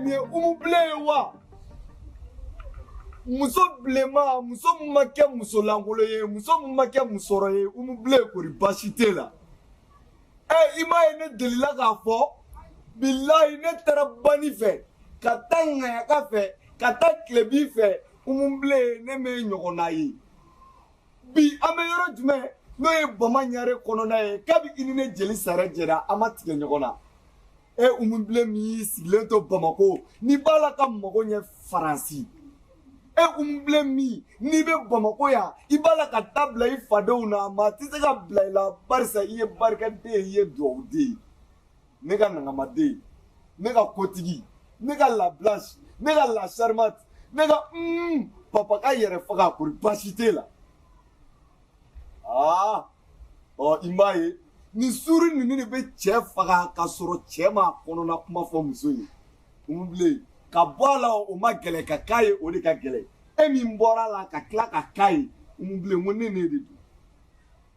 nin ye umubile ye wa muso bilenma muso min ma kɛ muso lankolo ye muso min ma kɛ musɔrɔ ye umubile kori baasi t'e la ɛ i m'a ye ne delila k'a fɔ bilayi ne taara bani fɛ ka taa ŋayaka fɛ ka taa tilebin fɛ umubile ne m'e ɲɔgɔnna ye bi an bɛ yɔrɔ jumɛn n'o ye bama ɲare kɔnɔna ye kabi i ni ne jeli sare jɛra an ma tigɛ ɲɔgɔn na e umubilen min y'i sigilen to bamako n'i b'a la ka mago ɲɛ faransi e umubilen min n'i bɛ bamako yan i b'a la ka ta bila i fadenw na maa tɛ se ka bila i la barisa i ye barikaden ye i ye dugawuden ye ne ka nankamaden ne ka kotigi ne ka la blanche ne ka la charmante ne ka mm, papa ka yɛrɛ faga kori baasi t'e la aa ɔ i m'a ye nin suuru ninnu de bɛ cɛ faga ka sɔrɔ cɛ ma kɔnɔna kuma fɔ muso ye umubilen ka bɔ a la o man gɛlɛn ka k'a ye o de ka gɛlɛn e min bɔra a la ka tila ka k'a ye umubilen ko ne ne de don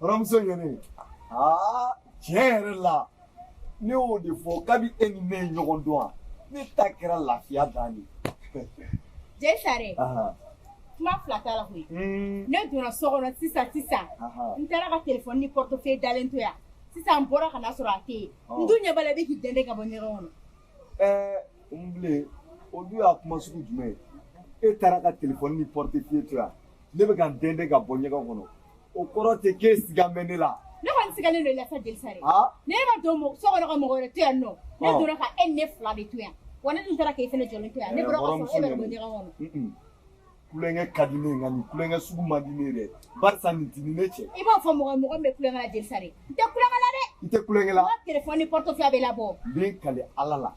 Baramuso ye ne aa tiɲɛ yɛrɛ la ne y'o de fɔ kabi e ni ne ye ɲɔgɔn dɔn wa ne ta kɛra lafiya dan ye jeli sare kuma fila t'a la koyi hmm. ne donna so kɔnɔ sisan sisan n taara ka telefɔni ni portefeuille dalen to yan sisan n bɔra ka na sɔrɔ a tɛ yen n dun ɲɛ b'a la i bɛ k'i dɛndɛn ka bɔ ɲɛgɛn kɔnɔ ɛɛ umubilen o dun y'a kuma sugu jumɛn ye e taara ka telefɔni ni portefeuille to yan ne bɛ ka n dɛndɛn ka bɔ ɲɛgɛn kɔnɔ o kɔrɔ tɛ k'e sigan bɛ ne la. ne kɔni sigannen don i la sa jeli sare ne ma don mɔgɔ so kɔnɔ ka mɔgɔ wɛrɛ to yan nɔ ne donna ka e ni ne fila de to yan wa ne dun taara k'e fana jɔlen to yan ne bɔra ka sɔrɔ e bɛ bɔ ɲɛgɛn kɔnɔ. kulonkɛ ka di ne ye nka nin kulonkɛ sugu man di ne ye dɛ barisa nin t'i ni ne cɛ. i b'a fɔ mɔgɔ mɔgɔ min bɛ kulonkɛ la jeli sare n tɛ kulonkɛ la dɛ. i tɛ kulonkɛ la. n ka telefɔni ni portefeuille bɛ labɔ. n bɛ n kali ala la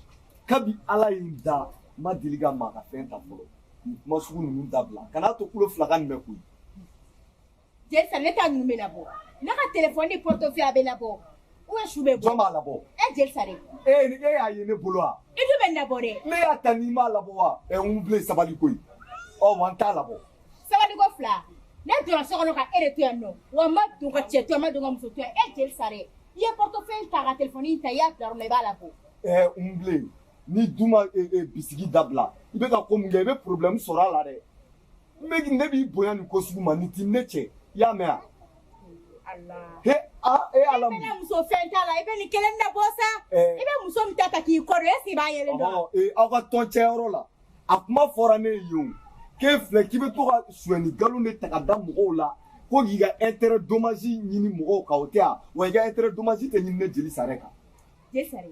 kabi ala ye n da n ma deli ka maa ka fɛn ta fɔlɔ nin kuma sugu ninnu dabila kan'a to kulo fila ka nin mɛn koyi. Jeli sare ne ta ninnu bɛ labɔ ne ka telefɔni ni portefeuille bɛ labɔ ou su bɛ bɔ jɔn b'a labɔ e jeli sare e e y'a ye ne bolo wa i dun b'a labɔ dɛ ne y'a ta n'i m'a labɔ wa ɛ umubilen sabali koyi ɔ wa n t'a labɔ sabali ko fila ne donna so kɔnɔ ka e de to yan nɔ wa n ma don ka cɛ to yan n ma don ka muso to yan e jeli sare i ye portefeuille ta ka telefɔni ta i y'a bila yɔrɔ min na i b'a labɔ ɛ umubilen ni duma bisigi dabila i bɛ ka ko min kɛ i bɛ problème sɔrɔ a la dɛ n bɛ ne b'i bonya nin ko sugu ma nin ti ne cɛ i y'a mɛn wa. he a e ala mun. i bɛ muso fɛn t'a la i bɛ nin kelen de bɔ sa. i bɛ muso min ta ta k'i kɔdɔ est-ce qu'i b'a yɛrɛ dɔn. ee aw ka tɔn cɛyɔrɔ la a kuma fɔra ne ye yen o k'e filɛ k'i bɛ to ka sonyani nkalon de ta ka da mɔgɔw la ko k'i ka intérêt dommage ɲini mɔgɔw kan o tɛ wa wa i ka intérêt dommage tɛ ɲini ne jeli sare kan. jeli sare.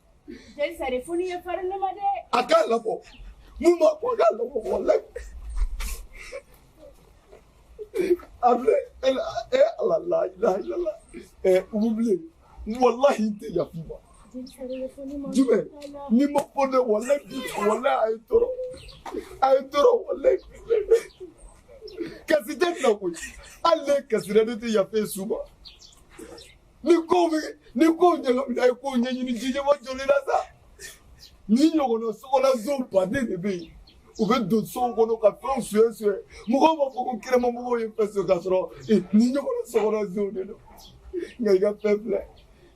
Sari ye fari ne ma dɛ a ka labɔ min ma ko ka labɔ la a filɛ e e ala la la Umu bilen walahi n tɛ yafa i ma jumɛn ni ma ko ne walahi walahi a ye n tɔɔrɔ a ye n tɔɔrɔ walahi kasi tɛ na koyi hali ne kasi ne tɛ yafa e su ma ni kow bɛ ni kow ɲagamina a ye kow ɲɛɲini jijɛma jɔlen na sa nin ɲɔgɔnna sokɔnɔnson baden de bɛ yen u bɛ don sow kɔnɔ ka fɛnw sonya sonya mɔgɔw b'a fɔ ko kɛnɛmamɔgɔw ye fɛn sonya k'a sɔrɔ nin ɲɔgɔnna sokɔnɔnsonw de don nka i ka fɛn filɛ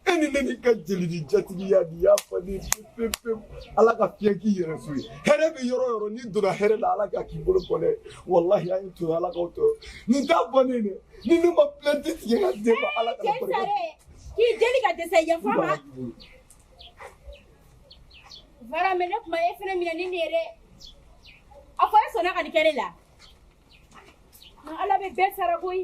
e ni ne ni ka jeli ni jatigiya n'i y'a fɔ ne pewu pewu ala ka fiɲɛ k'i yɛrɛ so ye hɛrɛ bɛ yɔrɔ o yɔrɔ n'i donna hɛrɛ la ala k'a k'i bolo bɔ dɛ walahi an ye to ala k'aw tɔɔrɔ nin t'a bannen dɛ ni ne ma plainte tigɛ ka d'e ma ala kana jeli sare. k'i deli ka dɛsɛ yafa ma bara mɛ ne kuma e fana minɛ ni ne ye dɛ a fɔ e sɔnna ka nin kɛ ne la ala bɛ bɛɛ sara koyi